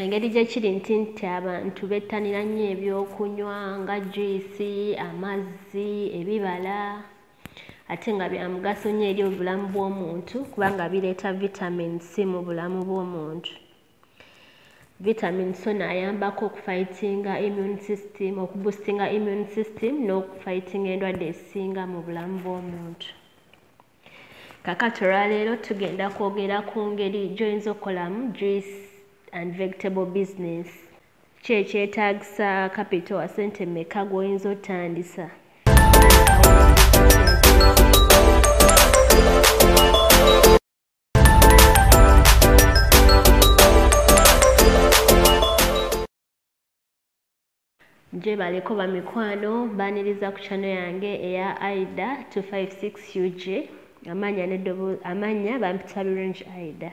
engeri gye kiri nti nti abantu bettanira nnyo ebyokunywa nga juyisi amazzi ebibala ate nga bya mugaso nnyo eri obulamu bw'omuntu kubanga bireeta vitamin c mu bulamu bw'omuntu vitamin so naayambako okufightinga immune system okubusitinga immune system n'okufightinga endwadde ezisinga mu bulamu bw'omuntu kakati olwaleero tugenda kwogera ku ngeri gyoyinza okukolamu juice and vegetable business kyekyetagisa capital asente meka gwoyinza otandisa Gyebaleko bamikwano baniriza ku channel yange eya Aida 256 UG amanya ne dobo amanya bampita birungi Aida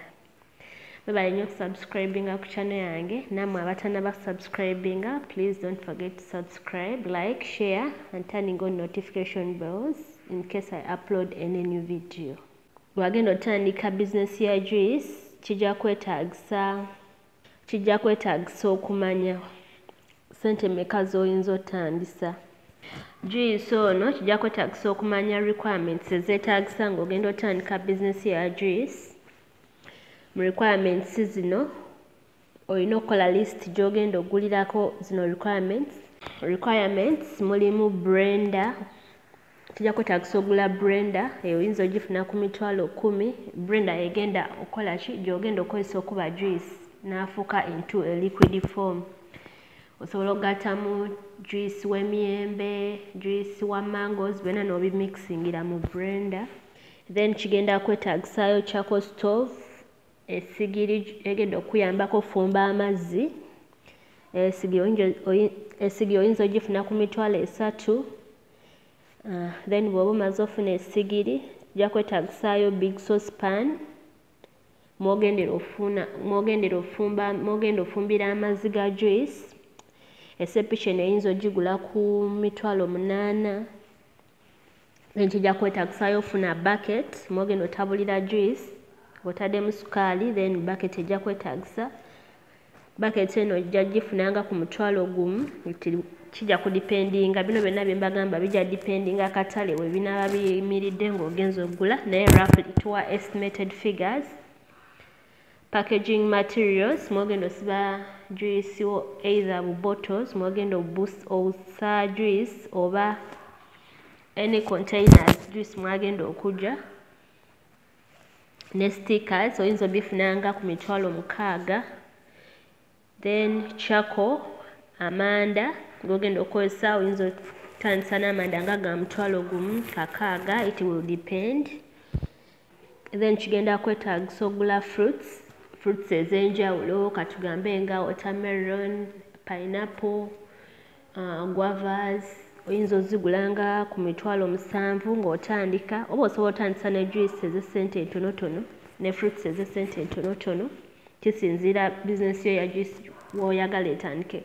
mwebale nyo subscribing ku channel yange namwe abatana ba subscribing please don't forget to subscribe like share and turning on notification bells in case I upload any new video wagenda otandika business ya juice kijja kwetagisa kijja kwetaagisa okumanya sente meka z'oyinza otandisa juyisi ono kijja kwetaagisa okumanya requirements ezeetaagisa ng'ogenda otandika bizinesi ya juyisi mu requirements zino olina okukola list gy'ogenda ogulirako zino requirements requirements mulimu brenda kijja kwetaagisa ogula brenda eyo oyinza ogifuna ku mitwalo kumi brenda egenda okukola ki gyogenda okukozesa okuba juice n'afuuka into a liquid form osobola okugattamu juice w'emiyembe juice wa mangoes byonna n'obimikisingira mu brenda then kigenda kwetaagisaayo chako stove esigiri egenda okuyambako okufumba amazzi esigiri oyinza ogifuna ku mitwalo esatu uh, then bwoba omaze ofuna esigiri kijja kwetagisaayo big sauce pan mwogendera ofuna mwogendera ofumba mwogenda ofumbira amazzi ga juice esepica eno eyinza ogigula ku mitwalo munaana then kijja kwetagisaayo ofuna bucket mwogenda otabulira juice otademu sukaali then bucket ejja kwetagisa baketi eno ojja gifunanga ku mutwalo gumu nti kijja kudipendinga bino byonna bye mbagamba bijja dipendinga akatale we binaaba biyimiridde ng'ogenza okugula naye rafl tuwa estimated figures packaging materials mwogenda osiba juice wo either bu bottles mwogenda obusa juice oba any containers juice mwagenda okugya ne stickers oyinza obifunanga ku mitwalo mukaaga then chako amanda gogenda okozesa oyinza otandisa n'amanda nga ga mutwalo gumu kakaaga it will depend then kigenda kwetagisa ogula fruits fruits ez'enjawulo katugambe nga watermelon pineapple uh, guavas oyinza ozigula nga ku mitwalo musanvu ng'otandika oba osobola otandisa ne juice ez'essente entonotono ne fruits ez'essente entonotono kisinziira bizinesi yo ya juice woyagala etandike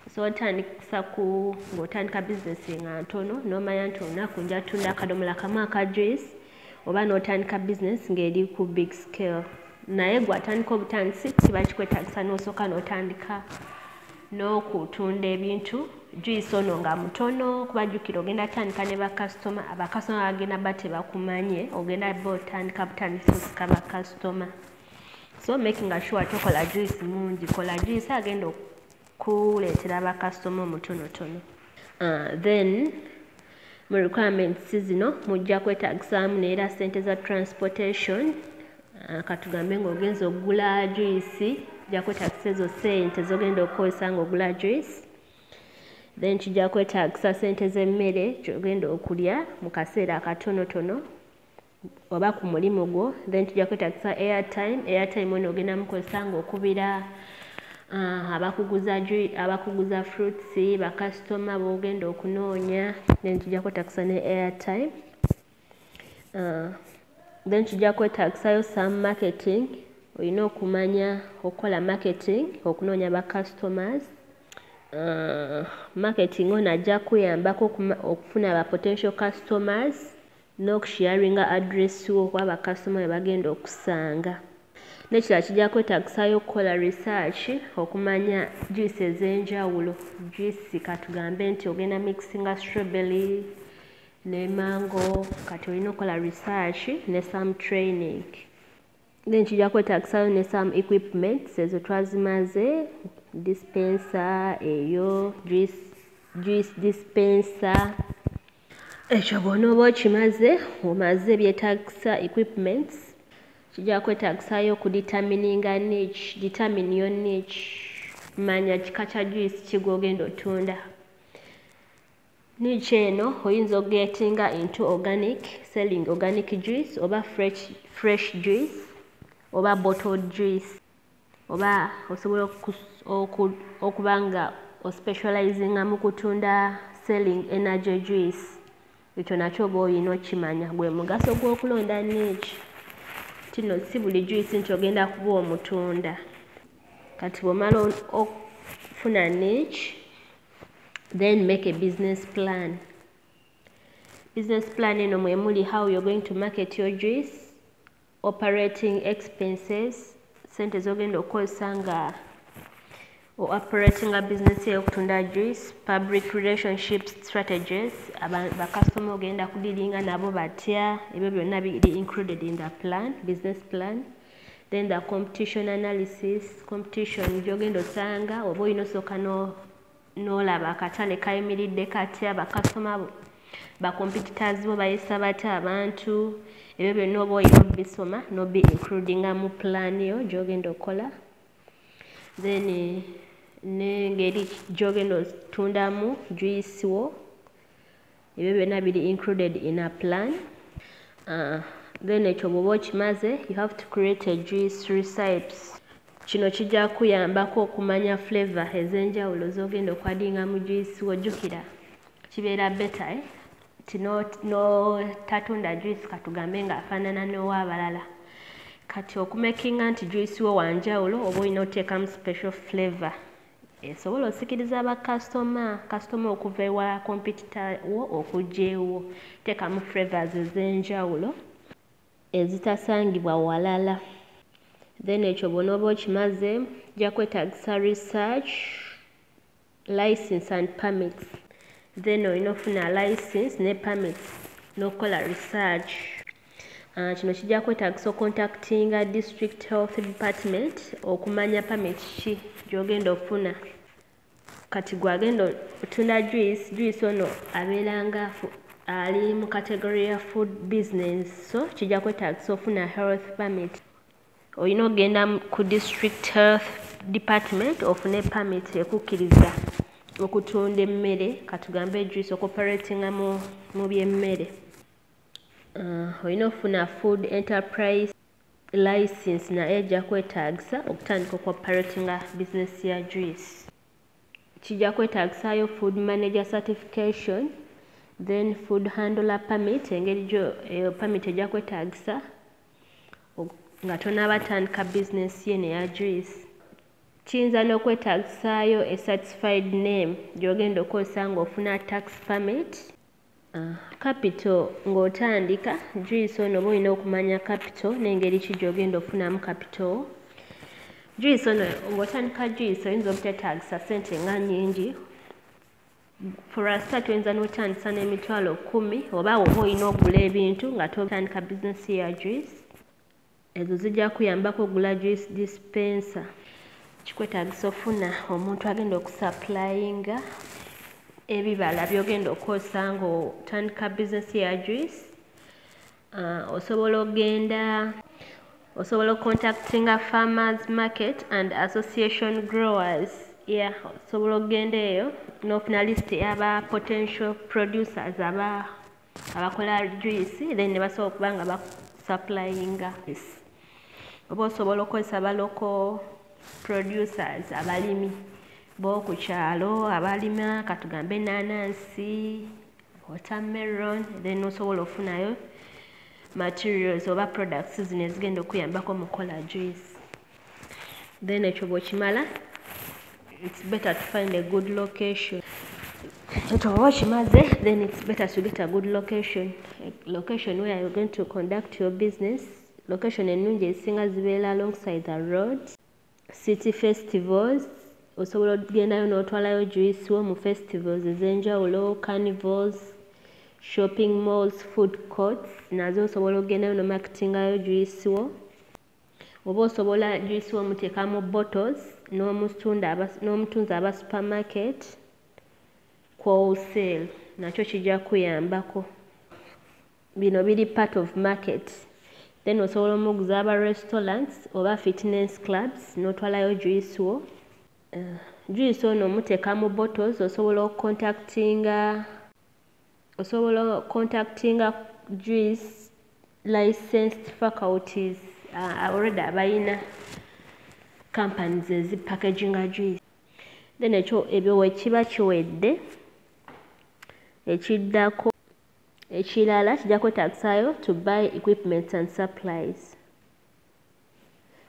osobola otandisa ku ng'otandika bizinesi nga ntono n'omanya nti olunaku nja tunda akadomola kamu aka juice oba n'otandika bizinesi ng'eri ku big scale naye gwe atandika obutandisi kiba kikwetagisa n'osooka n'otandika n'okutunda ebintu juyisi ono nga mutono kuba jjukira ogenda tandika ne bakasitoma abakasitoma bagenda ba tebakumanye ogenda ba otandika butandisi osika bakasitoma so making sure tokola juyisi mungi kola juyisi agenda kuleetera bakasitoma omutonotono uh, then mu requirements zino mujja kwetagisaamu neera sente za transportation uh, katugambe ngaogenza okugula juisi kijja kwetagisa ezo sente zogenda okukozesa nga ogula juice then kijja kwetagisa sente z'emmere kyogenda okulya mu kaseera akatonotono oba ku mulimu gwo then tujja kwetagisa airtime airtime eno ogenda mukozesa ngaokubira uh, abakuguza abakuguza fruits bakasitoma bogenda okunoonya then tujja kwetagisa ne airtime uh, then tujja kwetagisayo some marketing olina okumanya okukola marketing okunoonya ba customers uh, marketing ono ajja kuyambako okufuna ba potential customers Noku sharinga address wo kuba ba customer bebagenda okusanga. Nekirala kijja kwetagisaayo okukola research okumanya juice ez'enjawulo juice katugambe nti ogenda mixinga strawberry ne mango kati olina okukola research ne some training then kijja kwetagisaayo ne some equipments ezo twazimaze dispenser eyo juice, juice dispenser ekyo bw'onooba okimaze omaze ebyetaagisa equipments kijja kwetaagisa-yo okudetermininga nich determine yo nich manya kika kya juice ki gw'ogenda otunda nich eno oyinza okugetinga into organic selling organic juice oba fresh, fresh juice oba bottled juice oba osobola okuba nga ospecializinga mu kutunda selling energy juice ekyo nakyo oba olina okimanya gwe mugaso gw'okulonda niiki tino si buli juice nti ogenda kuba omutunda kati bwomala okufuna niiki then make a business plan business plan eno mwemuli how you're going to market your juice operating expenses sente zogenda okukozesa nga operatinga business yo okutunda juice public relationship strategies bakasitoma ogenda kudiringa nabo batya ebyo byonna biri included in the plan business plan then the competition analysis competition gyogenda osanga oba olina osooka no n'olaba akatale kayimiridde katya bakasitoma bo bakompetitors bo bayisa batya abantu ebyo byonna oba olina obisoma nobi includinga mu plan yo gyogenda okukola then nengeri gyogenda otundamu juisi wo ebyo byonna biri included in a plan uh, then ekyo bwoba okimaze you have to create a juice recipes kino kijja kuyambako okumanya flavor ez'enjawulo z'ogenda okwadinga mu juice wojjukira kibeera beta eh? ti notatunda no, juice katugambe nga afaanana n'owaabalala kati okumakinga nti juice wo wanjawulo oba olina oteekamu special flavor esobola osikiriza ba kasitoma kasitoma okuva ewa kompitita wo okujja ewo teekamu flavors ez'enjawulo ezitasangibwa walala then ekyo bwonooba okimaze ja kwetagisa research license and permits then olina ofuna license ne permits n'okukola research Ah, kino kijja kwetagisa ocontactinga district health department okumanya pamit ki gyogenda okufuna kati gwagenda otunda juice juice ono abeeranga ali mu category ya food business so kijja kwetagisa ofuna health permit olina okugenda ku district health department ofune permit ekukkiriza okutunda emmere katugambe juice okoperatinga mu byemmere uh, olina okufuna food enterprise license naye ejja kwetaagisa okutandika okuoperatinga business ya juice kijja kwetaagisayo food manager certification then food handler permit engeri gyo eyo eh, permit ejja kwetaagisa nga tonaaba tandika business ye neya juice kiyinza n'okwetaagisaayo esatisfied name gy'ogenda okozesa ng'ofuna tax permit Kapito ng'otandika juyisi ono oba olina okumanya kapito n'engeri ki gy'ogenda okufunamu kapito juyisi ono ng'otandika juyisi oyinza obutetagisa sente nga nyingi furasita tuyinza n'otandisa n'emitwalo kumi oba oba olina okugula ebintu nga totandika bizinesi ya juyisi Ezo zijja kuyambako ogula juice dispenser. Kikwetaagisa ofuna omuntu agenda okusapulayinga ebibala byogenda okukozesa ng'otandika bizinesi ya juice uh, osobola ogenda osobola okontaktinga farmers market and association growers ya yeah, osobola okugenda eyo n'ofuna lisiti yaba potential producers aba abakola juice then ne basobola okuba nga basupplyinga oba osobola okukozesa baloko producers abalimi boku kyalo abalima katugambe enanansi watermelon then osobola ofunayo materials oba products zino ezigenda okuyambako mukola juice then ekyo bwekimala it's better to find a good location ekyo bweba kimaze then it's better to get a good location a location where you're going to conduct your business location ennungi ezisinga zibeera alongside the road city festivals osobola okugendayo n'otwalayo juice wo mu festivals ez'enjawulo carnivals shopping malls food courts nazo osobola okugendayo nomaketingayo juice wo oba osobola juice womuteka mu bottles n'omutunda n'omutunzi aba supermarket ku wholesale nakyo kijja kuyambako bino biri part of market then osobola omuguza aba restaurants oba fitness clubs n'otwalayo juice wo uh, juice ono omuteeka mu bottles osobola okucontactinga osobola contactinga juice licensed faculties uh, already abayina companies ezi packaginga juice then ekyo ebyo wekiba kiwedde ekiddako ekirala kijja kwetagisayo to buy equipments and supplies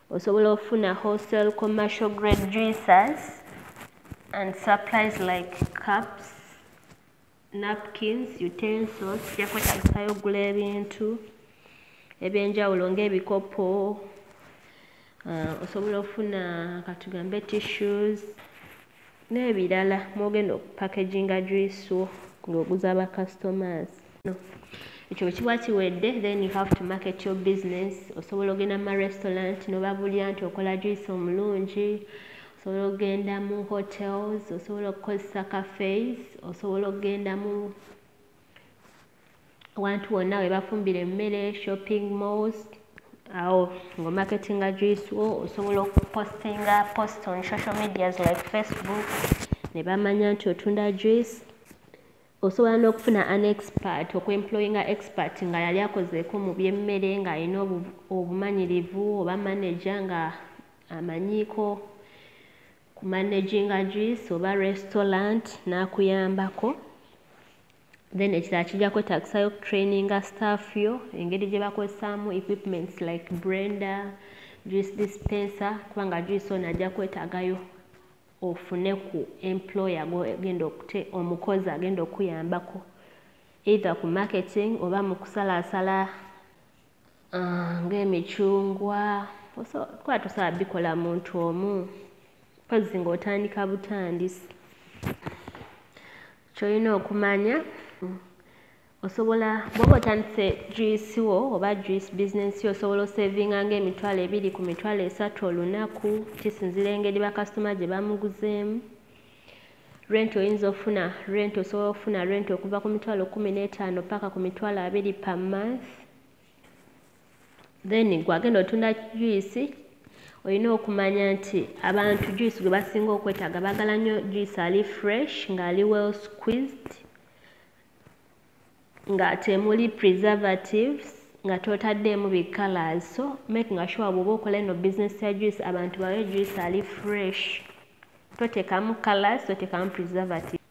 osobola ofuna wholesale commercial grade juices and supplies like cups napkins utensils jakwetagisayo ogula ebintu ebyenjawulo ngaebikopo uh, osobola ofuna katugambe tissues n'ebirala mwogenda okupakeginga juice wo ng'oguza ba customers no. ekyo bwe kiba kiwedde then you have to market your business osobola ogenda mu marestaurant nobabulira nti okola juice omulungi osobola okugenda mu hotels osobola okukozesa cafes osobola okugenda mu awantu wonna we bafumbira emmere shopping malls awo nga omaketinga juice wo osobola okupostinga post on social medias like facebook ne bamanya nti otunda juice osobola n'okufuna an expert okuemployinga expert nga yali akozeeko mu byemmere ng'alina obumanyirivu oba manaja nga amanyiiko ku managinga juice oba restaurant n'akuyambako then ekirala kijja kwetagisayo okutraininga staff yo engeri gye bakozesaamu equipments like brender juice dispenser kubanga juice ono ajja kwetagayo ofune ku employer genda okute omukozi agenda okuyambako either ku marketing oba mu kusalaasala uh, ng'emicungwa kuba tusaba bikola muntu omu mpozi ng'otandika butandisi kyolina okumanya osobola bwoba otandise juice wo oba juice business yo osobola osavinga nga emitwalo ebiri ku mitwalo esatu olunaku kisinzira engeri bakasitoma gye bamuguzeemu rent oyinza ofuna rent osobola okufuna rent okuva ku mitwalo kumi n'etaano paka ku mitwalo abiri per month then gwagenda otunda juice olina okumanya nti abantu juice gwe basinga okwetaaga bagala nnyo juice ali fresh ngaali well squeezed nga temuli preservatives nga totaddeemu bi colors so make nga sure bwoba okola eno business ya juice abantu bawe juice ali fresh totekamu colors totekamu preservative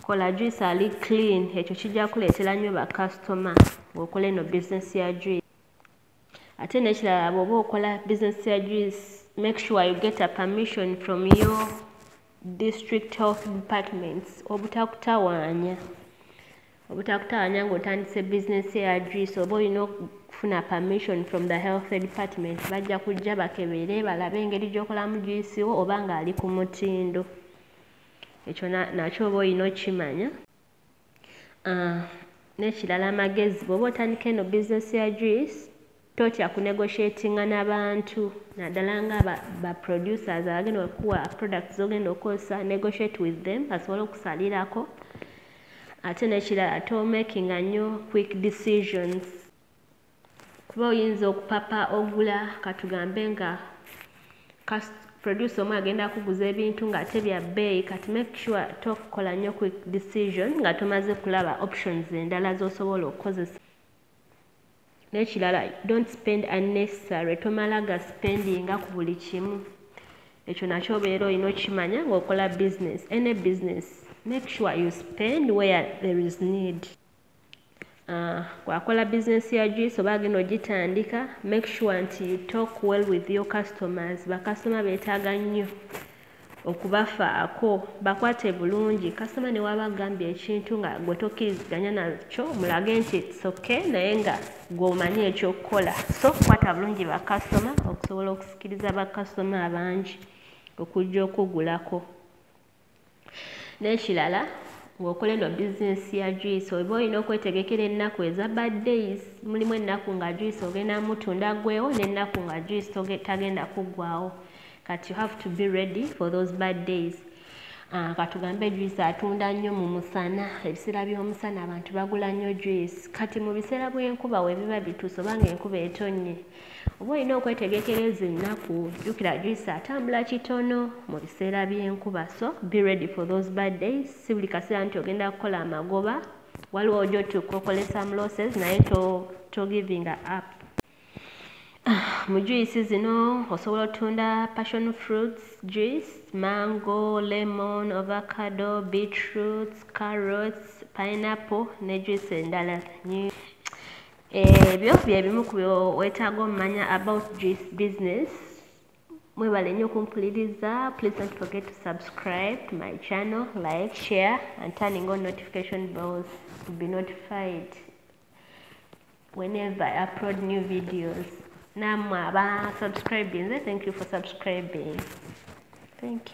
kola juice ali clean ekyo kijja kuleetera nnyo bakasitoma ng'okola eno bizinesi ya juice ate n'ekirala bw'oba okola bizinesi ya juice make sure you get a permission from your district health departments obutakutawaanya obutakutawaanya ng'otandise bizinesi ya juice oba olina okufuna permission from the health department bajja kujja bakebere balabe engeri gy'okolamu juice wo oba ng'ali ku mutindo ekyo nakyo oba olina okukimanya ah, n'ekirala amagezi bw'oba otandika eno bizinesi ya juice totya kunegotiatinga n'abantu naddala nga baproducers abagenda okuwa product zogenda okukozesa negotiate with them basobole okusalirako ate n'ekirala tomakinga nnyo quick decisions kuba oyinza okupapa ogula katugambe nga producer omu agenda kuguza ebintu ng'ate bya bbeeyi kati make sure tokola nnyo quick decision nga tomaze kulaba options endala z'osobola okukozesa n'ekirala don't spend unnecessary tomala ga spendinga ku buli kimu ekyo nakyo obeera olina okimanya ng'okola business any business make sure you spend where there is need Uh, kwakola bizinesi ya juice oba agenda ogitandika make sure nti you talk well with your customers bakasitoma beetaaga nnyo okubafaako bakwate bulungi kasitoma ne waba agambye ekintu nga gwe tokkiriziganya nakyo mulage nti etsoke naye nga gweomanyi ekyokukola so kukwata bulungi bakasitoma okusobola okusikiriza bakasitoma abangi okujja okugulako n'ekirala ng'okola eno bizinesi ya juice oba olina okwetegekera ennaku eza bad days mulimu ennaku nga juice ogenda mutunda gwewo n'ennaku nga juice tagenda kuggwawo kati you have to be ready for those bad days Ah, katugambe juice atunda nnyo mu musana ebiseera by'omusana abantu bagula nnyo juice kati mu biseera bw'enkuba webiba bituuse oba nga enkuba etonnye oba olina okwetegekera ezo ennaku jjukira juice atambula kitono mu biseera by'enkuba so be ready for those bad days si buli kaseera nti ogenda kukola amagoba waliwo oja otuuka okole some losses naye to, to giving up ah, mu juice zino osobola otunda passion fruits juice mango lemon ovacado beetroots carrots pineapple ne juice endala ebyo eh, byebimu ku wetaaga omumanya about this business mwebale nnyo okumpuliriza please don't forget to subscribe to my channel like share and turning on notification bells to be notified whenever i upload new videos namwe aba subscribing thank you for subscribing thank you